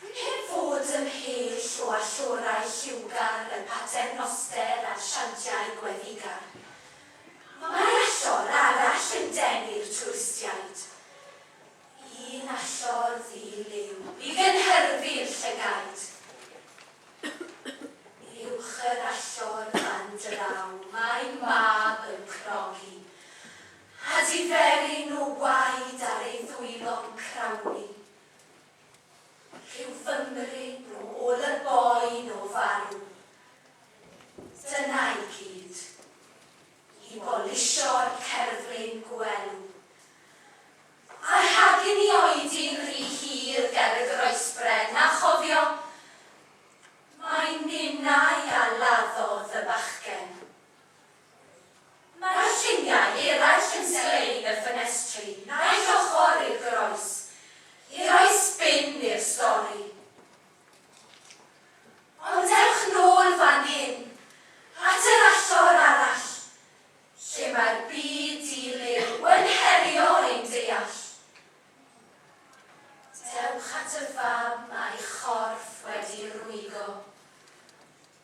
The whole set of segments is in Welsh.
Heb fod ymhell o allorau lliwgar y paternoster a'r siantiau gweddigar, mae allor arall yn denu'r twristiaid. Un allor ddi-liw i gynhyrfu'r llygaid. Uwch yr allor fan draw mae mab yn crogi. A diferyn nhw waed ar ei ddwylo'n crawnlu. Rhyw Fymry nhw ôl y boen o farw. Dyna i gyd. I bolisio'r cerflun gwelw. A rhagyn i oedi'n rhy hir ger y groesbren, a chofio, mai ninnau a laddodd y bachgen. Mae'r lluniau eraill yn sglein y ffenestri naill ochr i'r groes, i roi sbin i'r stori. Ond ewch nôl fan hyn, at yr allor arall, lle mae'r byd di-liw yn herio ein deall. Dewch at y fam a'i chorff wedi rwygo.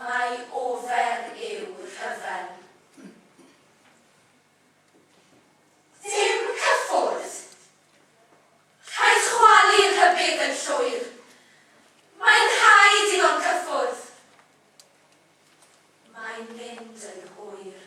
Mai ofer yw rhyfel. Dim cyffwrdd! Rhaid chwalu rhybudd yn llwyr. Mae'n rhaid iddo'n cyffwrdd. Mae'n mynd yn hwyr.